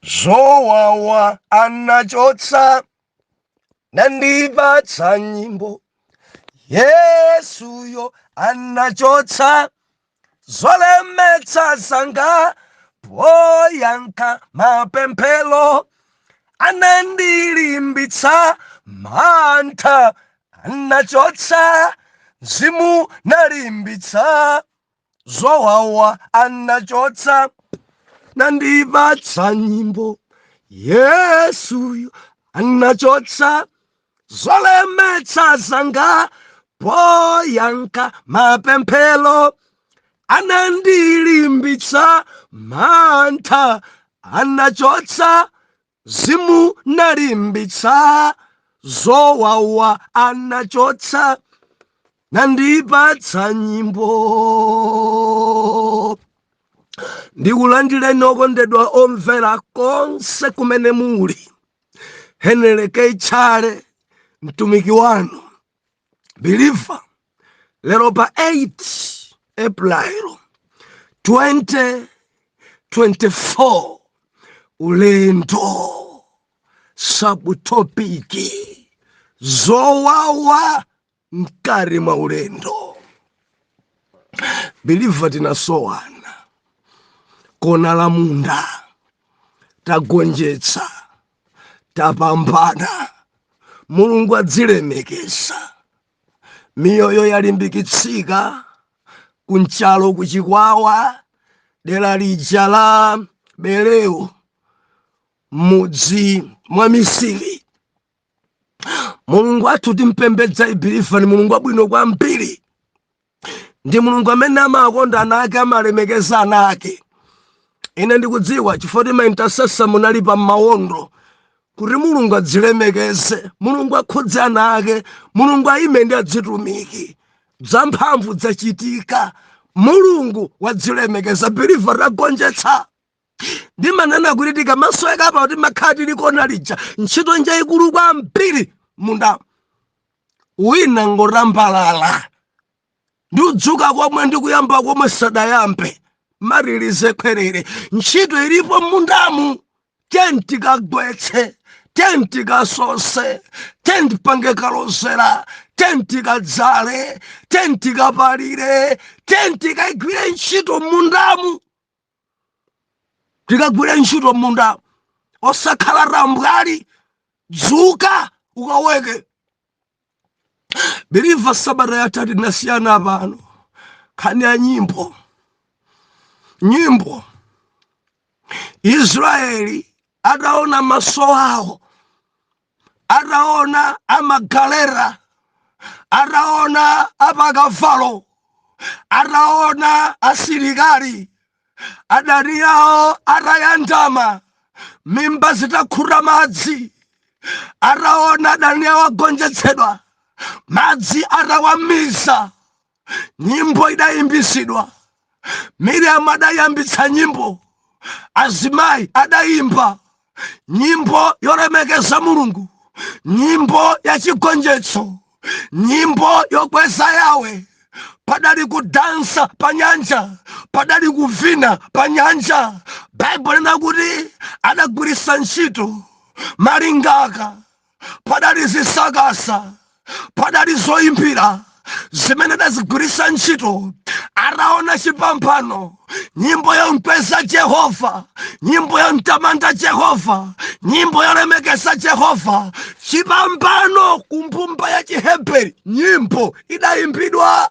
zowawa anachotsa nandipatsa nyimbo yesuyo anachotsa zolemetsa zanga poyankha mapemphero anandilimbitsa mantha anachotsa mzimu nalimbitsa zowawa anachotsa nandipatsa nyimbo yesuyo anachotsa zolemetsa zanga poyankha mapemphero anandilimbitsa mantha anachotsa Mzimu nalimbitsa, zowawa anachotsa, nandipatsa nyimbo. Ndikulandireni okondedwa omvera konse kumene muli. Henry K. Chale, mtumiki wanu. believer lero pa 8 april 2024 ulendo sabutopiki zowawa mkati mwa ulendo believer tinasowana kona la munda tagonjetsa tapambana mulungu adzilemekeza miyoyo yalimbikitsika ku Nchalo ku Chikwawa dera lija la Bereu mudzi mwa misiri mulungu athu timpembedza believer ni mulungu wabwino kwambiri ndi mulungu amene amakonda ana ake amalemekeza ana ake ine ndikudziwa chifukwa kuti ma intercessor munali pa mawondo kuti mulungu adzilemekeze mulungu akhudze ana ake mulungu ayime ndi adzitumiki zamphamvu zachitika mulungu wadzilemekeza believer tagonjetsa ndimanena kuti tikamasoweka apa kuti timakhala tili kona lija ntchito njaikulu kwambiri mundamu wina ngotambalala ndi kudzuka komwe ndikuyamba komwe sadayambe matirize khwerere ntchito ilipo mundamu tenti kagwetse tenti kasose tenti pange kalozera tenti kadzale tenti kapalire tenti kaigwire ntchito mundamu tikagwire ntchito m'munda osakhala tambwali dzuka ukaweke beliva sabata yatha tinasiyana pano nkhani ya nyimbo nyimbo israeli ataona maso awo ataona amagalera ataona apakavalo ataona asilikali adani awo atayandama mimba zitakhuta madzi ataona adani awo agonjetsedwa madzi atawamiza nyimbo idayimbitsidwa miriamu adayambitsa nyimbo azimayi adayimba nyimbo yolemekeza mulungu nyimbo yachigonjetso nyimbo yokweza yawe padali kudansa pa nyanja padali kuvina pa nyanja baibulo linati adagwiritsa ntchito malingaka padali zisakasa padali zoyimbira zimene adazigwiritsa ntchito ataona chipambano nyimbo yomkweza jehova nyimbo yomtamanda jehova nyimbo yolemekeza jehova chipambano kumbumba ya chiheberi nyimbo idayimbidwa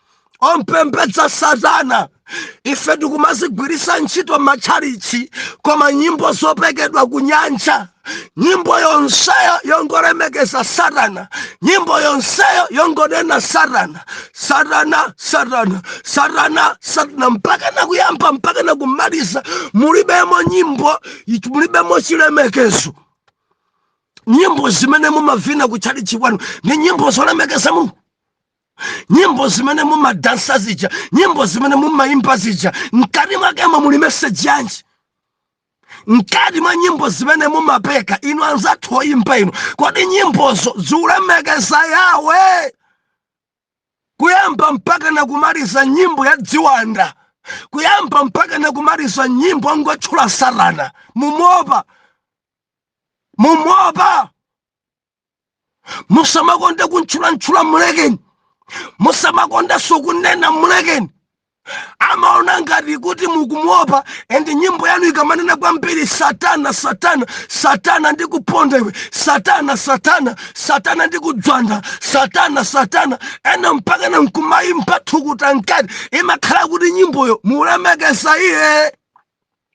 ompembedza satana ife tikumazigwiritsa ntchito m'matchalichi koma nyimbo zopekedwa kunyanja nyimbo yonseyo yongolemekeza satana nyimbo yonseyo yongonena satana satana satana satana satana mpaka na kuyamba mpaka na kumaliza mulibemo nyimbo mulibemo chilemekezo nyimbo zimene mumavina kutchalichi kwanu ni nyimbo zolemekeza mulungu nyimbo zimene mumadansa zija nyimbo zimene mumayimba zija mkati mwakemo muli meseji yanji mkati mwa nyimbo zimene mumapeka inu anzathu oyimba inu kodi nyimbozo zikulemekeza yawe kuyamba mpaka na kumaliza nyimbo ya dziwanda kuyamba mpaka na kumaliza nyimbo angotchula satana mumopa mumopa musamakonde kumtchulamtchula mulekeni musamakondenso kunena mulekeni amaona ngati kuti mukumuopa and nyimbo yanu ikamanena kwambiri satana satana satana ndikuponda iwe satana satana satana ndikudzwanda satana satana ena mpaka na nkumayimba thukuta mkati imakhala kuti nyimboyo mukulemekeza iye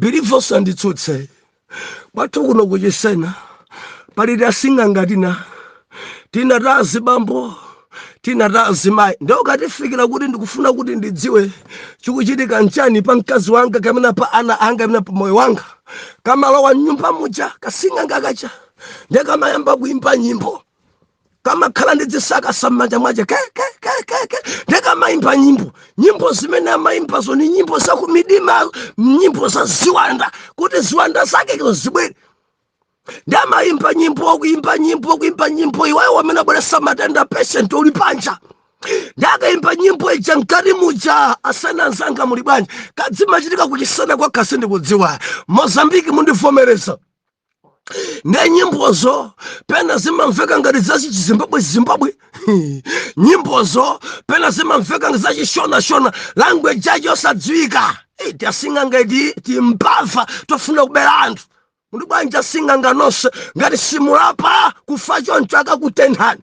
believe osanditsutsa kwathu kuno kuchisena pali tasing'anga tina tina ta azibambo tina ta azimayi nde ukatifikira kuti ndikufuna kuti ndidziwe chikuchitika nchani pa mkazi wanga kapena pa ana anga kapena pa moyo wanga kamalowa mnyumba muja kasing'anga kaja nde kamayamba kuimba nyimbo kamakhala ndi dzisakasa m'manja mwace kekekekeke nde kamaimba nyimbo nyimbo zimene amaimbazo ni nyimbo zakumidima nyimbo za ziwanda kuti ziwanda zakezo zibwere nde amaimba nyimbo kuimba nyimbo kuimba nyimbo iwayo amene abweretsa matenda patient uli panja nde akaimba nyimbo ija mkati muja asana anzanga muli bwanji kadzimachitika kuchisena kwakeko ndikudziwa mozambiki mundivomereza nde nyimbozo pena zimamveka ngati za chizimbabwe zimbabwe nyimbozo pena zimamveka ngati za chishonashona language yacho yosadziwika Eh, tasing'anga iti timbava tofuna kubera anthu muli bwanji asing'anga nonse ngati simulapa kufa choncho akakutenthani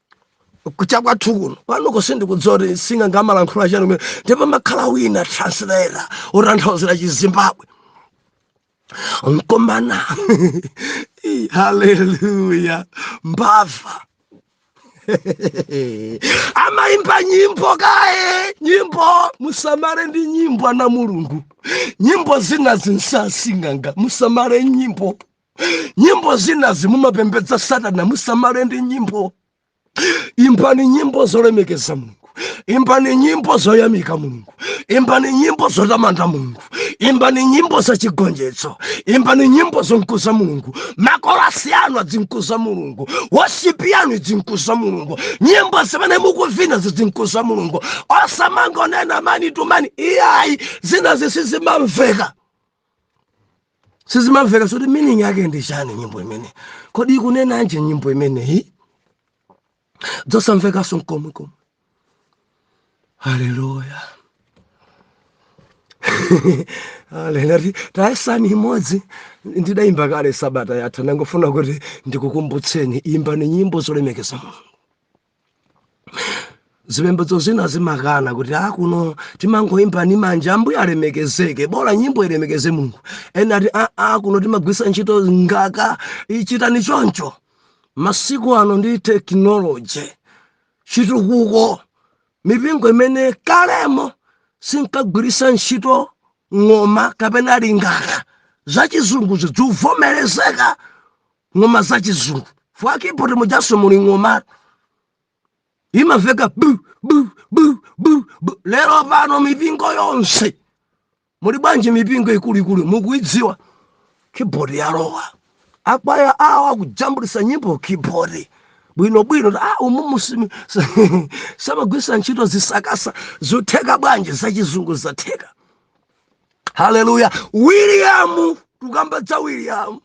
cha kwathu kuno kwanuko sindikudziwa kuti asing'anga amalankhula chani kumeneko ndipo pamakhala wina translator otanthauzira chizimbabwe nkomana Ih, haleluya mbava amaimba nyimbo kaye nyimbo musamale ndi nyimbo ana a mulungu nyimbo zina nza asing'anga musamale nyimbo nyimbo zinazi mumapembedza satana musamale ndi nyimbo imbani nyimbo zolemekeza mulungu imbani nyimbo zoyamika mulungu imbani nyimbo zotamanda mulungu imbani nyimbo zachigonjetso imbani nyimbo zonkuza mulungu makorasi anu adzinkuza mulungu worship yanu idzinkuza mulungu nyimbo zimene mukuvina zidzinkuza mulungu osamangonena mani tumani iyayi zinazi sizimamveka sizimamveka nso kuti meaning yake ndi chani nyimbo imeneyi kodi ikunenanji nyimbo imeneyi dzosamvekanso nkomwe komwe haleluya haleluya tayesani imodzi ndidayimba kale sabata yatha ndangofuna kuti ndikukumbutseni imbani nyimbo zolemekeza mulungu zipembedzo zina zimakana kuti a kuno timangoimba ni manja ambuye alemekezeke bora nyimbo ilemekeze mulungu ena ati a, a kuno timagwiritsa ntchito lingaka chitani choncho masiku ano ndi tekinoloji chitukuko mipingo imene kalemo sinkagwiritsa ntchito ng'oma kapena lingaka zachizungu zikuvomerezeka ng'oma za chizungu mwa keyboard mujanso muli ng'oma imamveka bu bu bu bu bu lero pano mipingo yonse muli bwanji mipingo ikuluikulu mukuidziwa keyboard yalowa akwaya awo akujambulitsa nyimbo keyboard bwinobwino a ah, umumu samagwiritsa ntchito zisakasa zotheka bwanji zachizungu zatheka haleluya william tukamba za william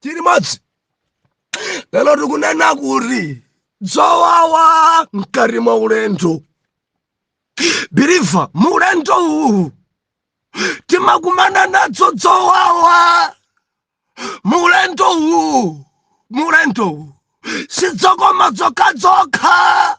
tili limodzi lero tikunena kuti dzowawa mkati mwa ulendo believer mu ulendo uwu timakumana nadzo dzowawa mu ulendo uwu mu ulendo uwu sidzokoma dzokha dzokha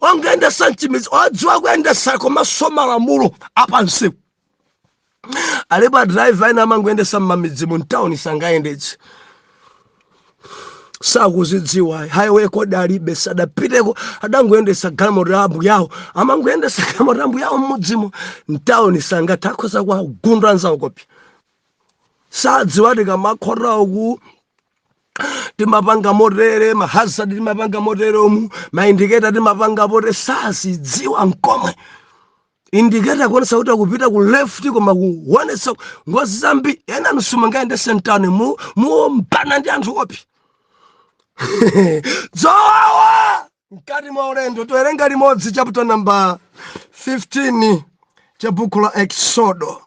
ongoyendetsa mchimidzi odziwa kuyendetsa komanso malamulo apamsewu alipo adriver ena amangoyendetsa mmamidzimu mtawuni sangayendetse sakuzidziwa highway code alibe sadapiteko adangoyendetsa galimoto ya ambuye awo amangoyendetsa galimoto ya ambuye awo mmudzimo mtawuni sangathe akhoza kuwagunda anzawo poti sadziwa tikamakhotera uku timapanga motere mahazard timapanga moteromu maindicator timapanga motere sazidziwa nkomwe indicator kuonetsa kuti akupita ku left koma kuonetsa ngozi zambiri ena inu simungayendetse mtawunimu muombana ndi anthu opi dzowawa mkati mwa ulendo towerenga limodzi chapter number 15 cha buku la exodo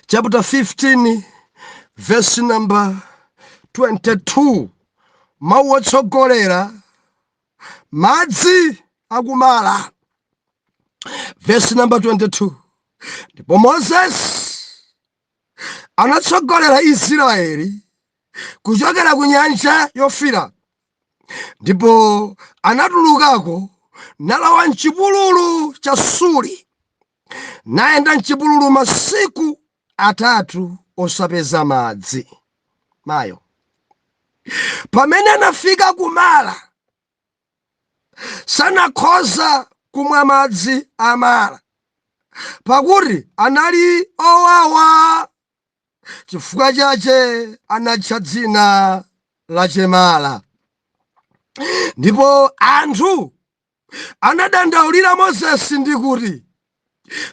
chapter 15 verse number 22 mawu otsogolera madzi a ku mara verse number 22 ndipo moses anatsogolera israeli kuchokera ku nyanja yofiira ndipo anatulukako nalowa mchipululu cha suri nayenda m'chipululu masiku atatu osapeza madzi. Mayo. Pamene anafika ku Mara, sanakhoza kumwa madzi a Mara, pakuti anali owawa, chifukwa chache anatcha dzina lache Mara. Ndipo anthu anadandaulira mozesi ndi kuti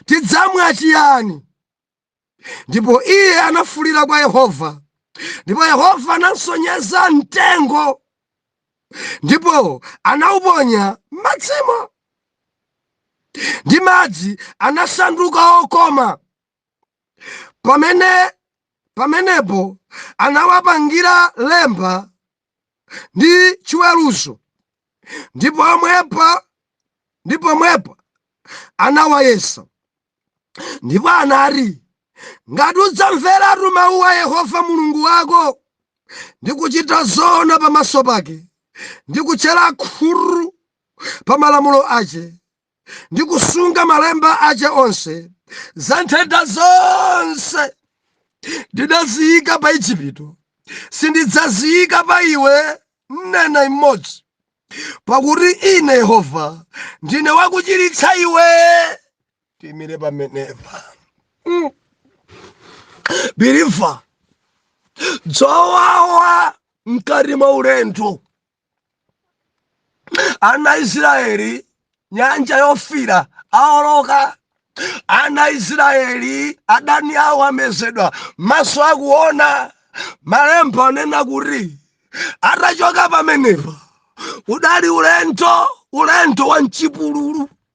tidzamwa chiyani ndipo iye anafuulira kwa yehova ndipo yehova anamsonyeza mtengo ndipo anauponya m'madzimo ndi madzi anasanduka okoma pamene pamenepo anawapangira lemba ndi chiweruzo ndi pomwepa ndi pomwepa anawayesa ndipo anati ngati udzamveratu mawu a yehova mulungu wako ndi kuchita zoona pamaso pake ndi kutchera khutu pa malamulo ace ndi kusunga malemba ace onse za nthenda zonse ndinaziyika pa ejipito sindidzaziyika pa iwe nnena imodzi pakuti ine yehova ndine wakuchiritsa iwe tiimire pamenepa biliva dzowawa mkati mwa ulendo ana israeli nyanja yofira aoloka ana israeli adani awo amezedwa maso akuona malemba anena kuti atachoka pamenepa udali ulendo ulendo wa mchipululu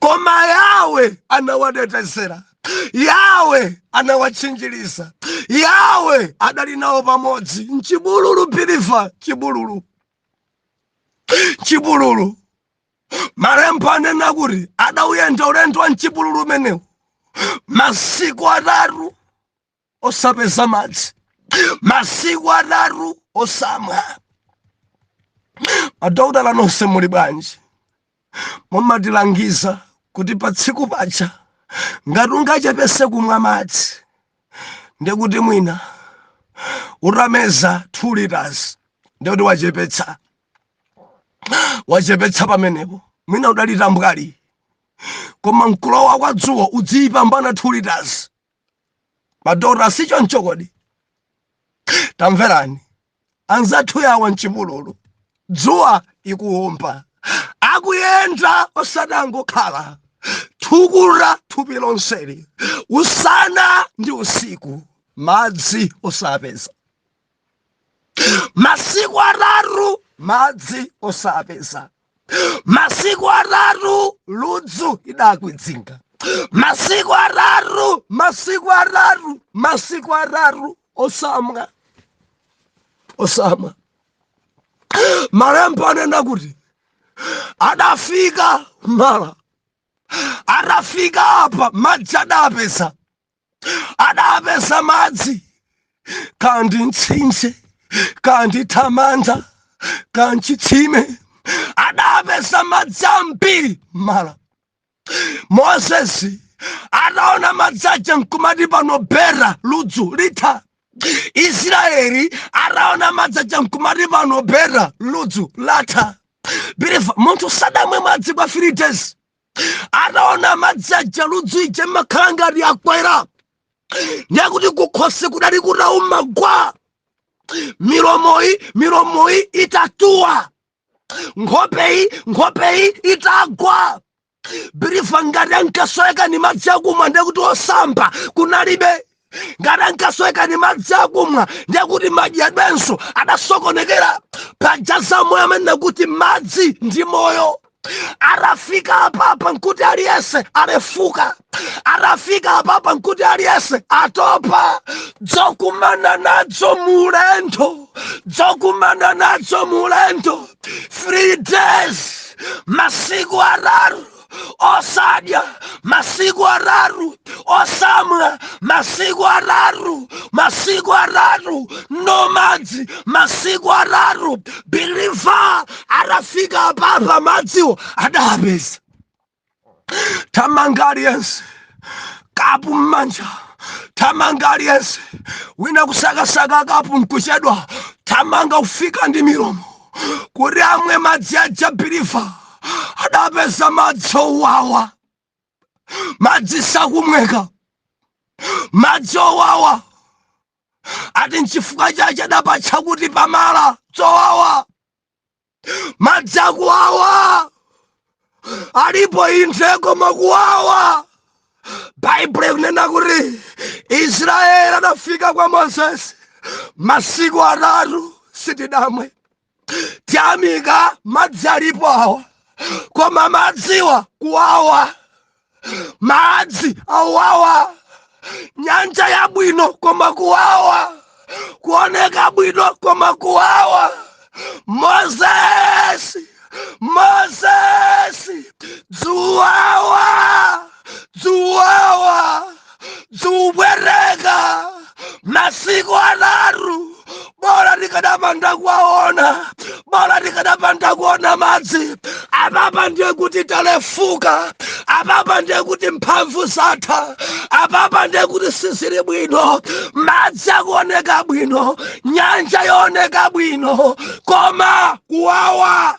koma yawe anawatetezera yawe anawatchinjiriza yawe adali nawo pamodzi mchipululu biliva chipululu chipululu malembo anena kuti adawuyenda ulendo wa mchipululu umenewu masiku atatu osapeza madzi masiku atatu osamwa madokotala nonse muli bwanji mumatilangiza kuti pa tsiku paja ngati ungachepetse kumwa madzi ndekuti mwina utameza 2 liters ndekuti wachepetsa wachepetsa pamenepo mwina udali tambwali koma mkulowa kwa dzuwa udziyipambana 2 liters madokotala sichoncho kodi tamverani anzathu awa mchipululu dzuwa ikuwomba akuyenda osati angokhala thukuta thupi lonseli usana ndi usiku madzi osapeza masiku atatu madzi osapeza masiku atatu ludzu idakwidzinga masiku atatu masiku atatu masiku atatu osamwa osamwa malembo anena kuti adafika mala atafika apa madzi adapeza adapeza madzi kaya ndi mtsinje kaya ndi thamanda kaya nchitsime adapeza madzi ambiri mala mozesi ataona madzi aja nkumati pano bera ludzu litha israeli ataona madzi aja nkumati pano bera ludzu latha believer munthu sadamwe madzi kwa three days ataona madzi aja ludzu lija limakhala ngati lakwera ndekuti kukhosi kudali kutauma gwa milomoyi milomoyi itatuwa nkhopeyi nkhopeyi itagwa believer ngati ankasoweka ni madzi akumwa ndekuti osamba kunalibe ngati ankasoweka ni madzi akumwa ndiye kuti madyedwenso adasokonekera paja za moyo amanena kuti madzi ndi moyo atafika apapa nkuti aliyense alefuka atafika apapa nkuti aliyense atopa dzokumana nadzo mu ulendo dzokumana nadzo mu ulendo three days masiku atatu osadya masiku atatu osamwa masiku atatu masiku atatu no madzi masiku atatu believer atafika apapa madziwo adapeza thamanga aliyense kapu mmanja thamanga aliyense wina kusakasaka kapu nkuchedwa thamanga kufika ndi milomo kuti amwe madzi aja believer adapeza madzi owawa madzi sakumweka madzi owawa ati nchifukwa chache adapatcha kuti pa mala zowawa madzi akuwawa alipo inde koma kuwawa baibulo ikunena kuti israeli adafika kwa mozesi masiku atatu sitidamwe tiyamika madzi alipo awa koma madziwa kuwawa madzi awawa nyanja yabwino koma kuwawa kuoneka bwino koma kuwawa moses moses dzuwawa dzuwawa zikupweteka masiku atatu bola tikadapanda kuwaona bola tikadapanda kuona madzi apapa ndiye kuti talefuka apapa ndiye kuti mphamvu zatha apapa ndiye kuti sizili bwino madzi akuoneka bwino nyanja yooneka bwino koma kuwawa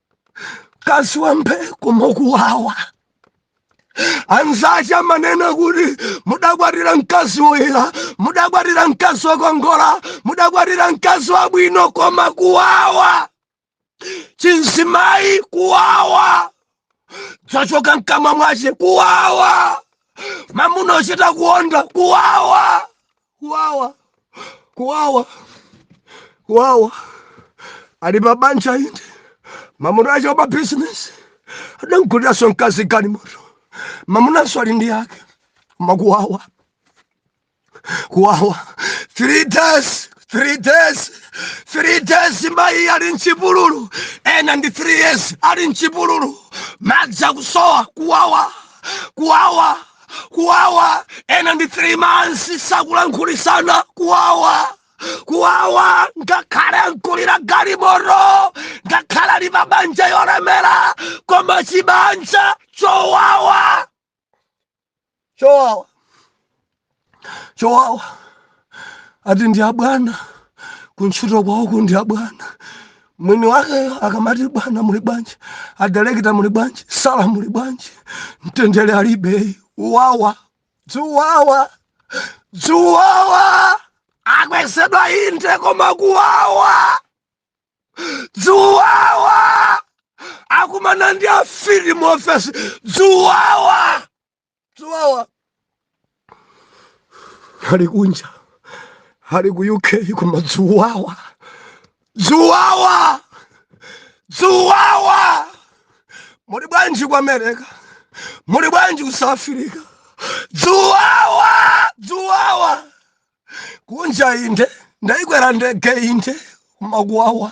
mkazi wa mbee koma kuwawa anzace amanena kuti mudakwatira mkazi woyera mudakwatira mkazi wokongola mudakwatira mkazi wabwino koma kuwawa chinzimayi kuwawa dzachoka mkamwa mwace kuwawa mamuna ochita kuonda kuwawa kuwawa kuwawa kuwawa ali pa banja inde mamuna wache wa business adamguliranso mkazi galimoto mamunanso ali ndi yake koma kuwawa kuwawa three days three days three days mayi ali mchipululu ena ndi three years ali mchipululu madzi akusowa kuwawa kuwawa kuwawa ena ndi 3 months sakulankhulitsana kuwawa kuwawa ngakhale amgulira galimoto ngakhale ali pa banja lolemera koma chibanja chowawa chowawa chowawa ati ndi abwana kuntchito kwawo uku ndi abwana mwini wakeyo akamati bwana muli bwanji adalekita muli bwanji sala muli bwanji mtendere alibe kuwawa zowawa zowawa akwezedwa inde koma kuwawa zowawa akumana ndi afiti mu ofesi zowawa zowawa ali kunja ali ku uk koma zowawa zowawa zowawa muli bwanji ku america muli bwanji ku south africa zowawa zowawa kunja inde ndaikwera ndege inde koma kuwawa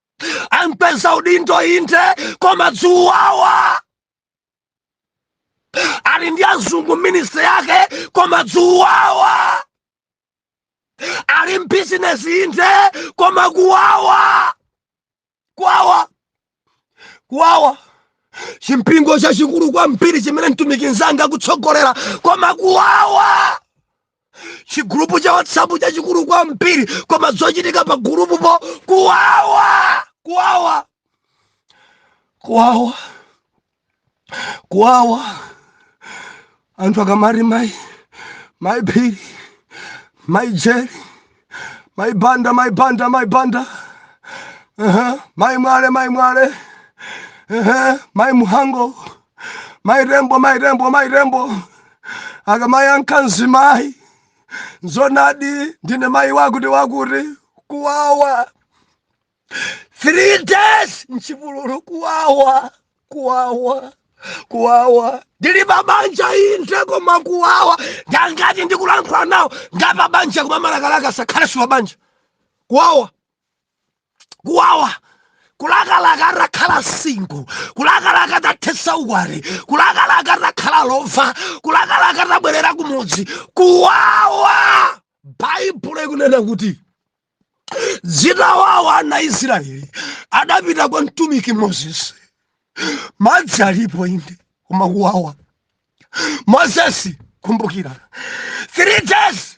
amkweza udindo inde koma zowawa ali ndi azungu ministry yake koma zowawa ali mbizinesi inde koma kuwawa kuwawa kuwawa chimpingo chachikulu kwambiri chimene mtumiki mnzanga akutsogolera koma kuwawa chigulupu cha whatsapp chachikulu kwambiri koma zochitika pa gulupupo kuwawa kuwawa kuwawa kuwawa anthu akamati mayi mayi phiri mayi jere mayi banda mayi banda mayi banda uh-huh. mayi mwale mayi mwale uh-huh. mayi muhango mayi tembo mayi tembo mayi tembo akamayankha mzimayi zonadi ndine mayi wakuti wakuti kuwawa three days mchipululu kuwawa kuwawa kuwawa ndili pabanja inde koma kuwawa ndi angati ndikulankhula nawo ngapabanja koma amalakalaka atakhala siwapabanja kuwawa kuwawa kulakalaka utakhala single kulakalaka utathetsa ukwati kulakalaka utakhala lova kulakalaka utabwerera kumudzi kuwawa baibulo ikunena kuti zitawawa ana israeli adapita kwa mtumiki mozesi madzi alipo inde koma kuwawa mozesi kumbukira three days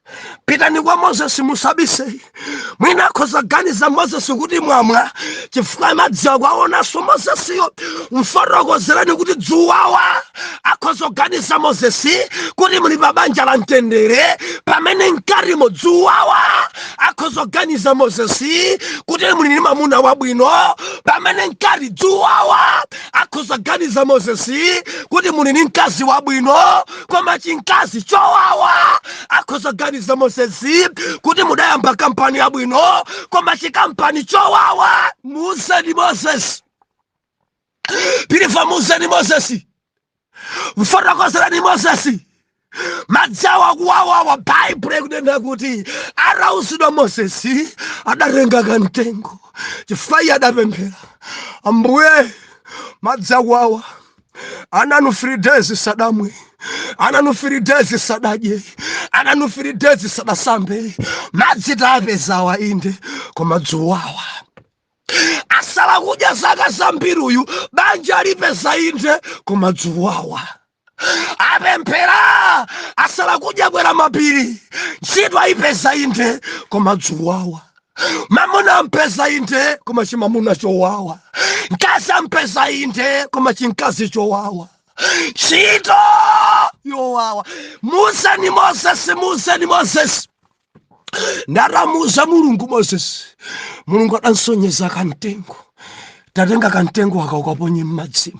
pitani kwa mozesi musabise mwina akhoza ganiza mozesi kuti mwamwa chifukwa madzi akuwaonanso mozesiyo mfotokozereni kuti dzuwawa akhoza kuganiza mozesi kuti muli pa banja la mtendere pamene mkatimo dzuwawa akhoza kuganiza mozesi kuti muli ni mamuna wabwino pamene mkati dzuwawa akhoza kuganiza mozesi kuti muli ni mkazi wabwino koma chinkazi chowawa akhoza ganiza moses kuti mudayamba kampani yabwino koma chikampani chowawa muuzeni moses pilifa muuzeni moses mfotokozereni moses madziwa akuwawawa baibulo ikunena kuti atauzidwa moses adatenga kamtengo chifukwa iye adapemphera ambuye madzi akuwawa ananu three days sadamwe ananu three days sadadye ananu three days sadasambe madzi tapezawa inde koma dzuwawa asala kudya zaka zambiri uyu banja alipeza inde koma dzuwawa apemphera asala kudya kwera mapiri ntchito ayipeza inde koma dzuwawa mamuna ampeza inde koma chimamuna chowawa mkazi ampeza inde koma chimkazi chowawa ntchito yowawa muuzeni mozesi muuzeni mozesi nde atamuuza mulungu mozesi mulungu adansonyeza kamtengo tatenga kamtengo aka ukaponye m'madzimo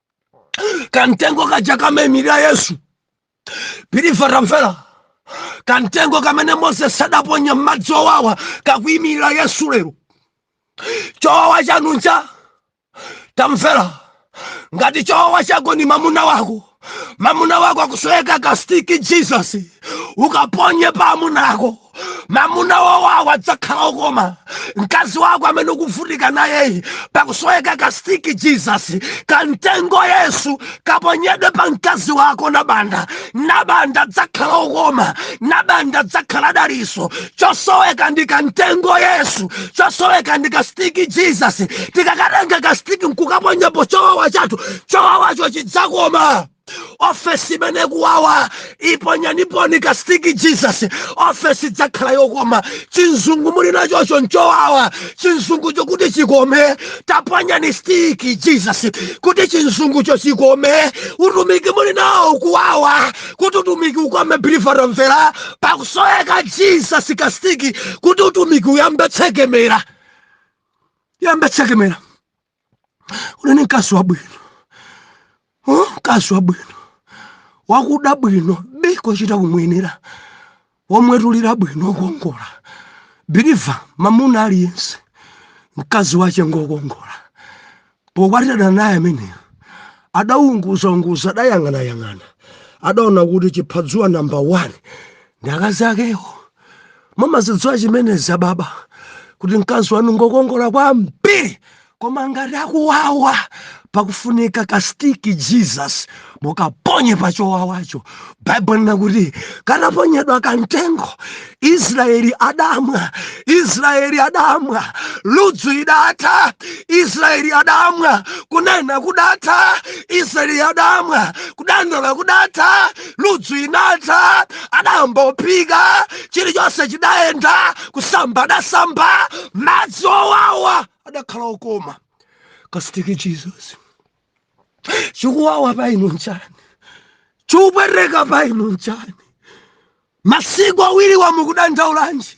kamtengo kaja kamaimirira yesu pilifa tamvera kamtengo kamene moses adaponya m'madzi owawa kakuimirira yesu lero chowawa chanu nchani tamvera ngati chowawa chako ni mamuna wako mamuna wako akusoweka ka stick jesus ukaponye pa amuna ako amuna owawawo adzakhala okoma mkazi wako amene ukuvutika nayeyi pakusoweka ka stick jesus kamtengo yesu kaponyedwe pa mkazi wako nabanda nabanda adzakhala okoma nabanda adzakhala daliso chosoweka ndi kamtengo yesu chosoweka ndi ka stick jesus tikakatenga ka stick nkukaponyapo chowawa chathu chowawacho chidzakoma ofesi imene ikuwawayi ponyaniponi kasitiki jesus ofesi idzakhala yokoma chinzungu muli nachocho nchowawa chinzungucho kuti chikome taponyani stiki jesus kuti chinzungucho chikome utumiki muli nawo ukuwawa kuti utumiki ukome biliva tamvera pakusoweka jesus kasitiki kuti utumiki uyambe tsekemera yambe tsekemera unene mkazi wabwino huh? mkazi wabwino wakuda bwino bii kochita kumuyenera womwetulira bwino okongola biliva mamuna aliyense mkazi wache ngokongola pokwatirana naye ameneyo adaunguzaunguza adayang'anayang'ana adaona kuti chiphadzuwa namba 1 ndi akazi akewo mumazidziwa chimenezi ababa kuti mkazi wanu ngokongola kwambiri koma ngati akuwawa pakufunika kastiki jesus mukaponye pa chowawacho baibulo linena kuti kataponyedwa kamtengo israeli adamwa israeli adamwa ludzu idatha israeli adamwa kunena kudatha israeli adamwa kudandaula kudatha ludzu inatha adayamba ophika chilichonse chidayenda kusamba adasamba madzi owawa adakhala okoma kasitiki jesus chikuwawa pa inu nchani chikupweteka pa inu nchani masiku awiriwa mukudandaulanji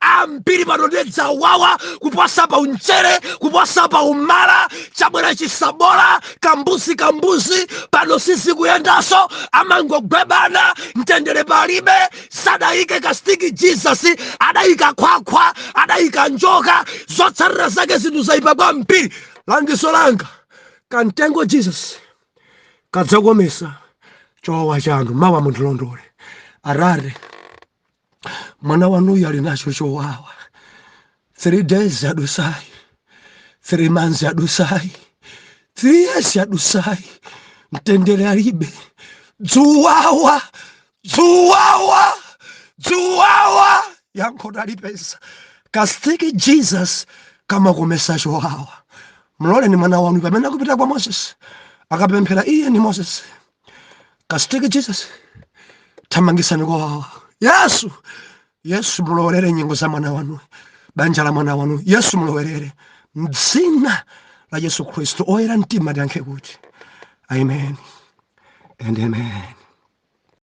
ambiri pano nde dzawawa kuposa pa unchere kuposa pa umala chabwera chisabola kambuzi kambuzi pano sizikuyendanso amangogwebana mtendere palibe sadayike kastiki jesus adayika khwakhwa adayika njoka zotsatira zake zinthu zayipa kwambiri langizo langa kamtengo jesus kadzakomesa chowawa chanu mawa mundilondole atate mwana wanuyu ali nacho chowawa three days yadutsayi three months yadutsayi three years yadutsayi mtendere alibe dzuwawa dzuwawa dzuwawa yankho talipeza kastiki jesus kamakomesa chowawa mloleni mwana wanu pamene akupita kwa moses akapemphera iye ni moses kasitiki jesus thamangitsani kuwawa yesu yesu mulowerere nyengo za mwana wanu banja la mwana wanu yesu mulowerere mdzina la yesu khristu oyera mtima tiyankhe kuti amen and amen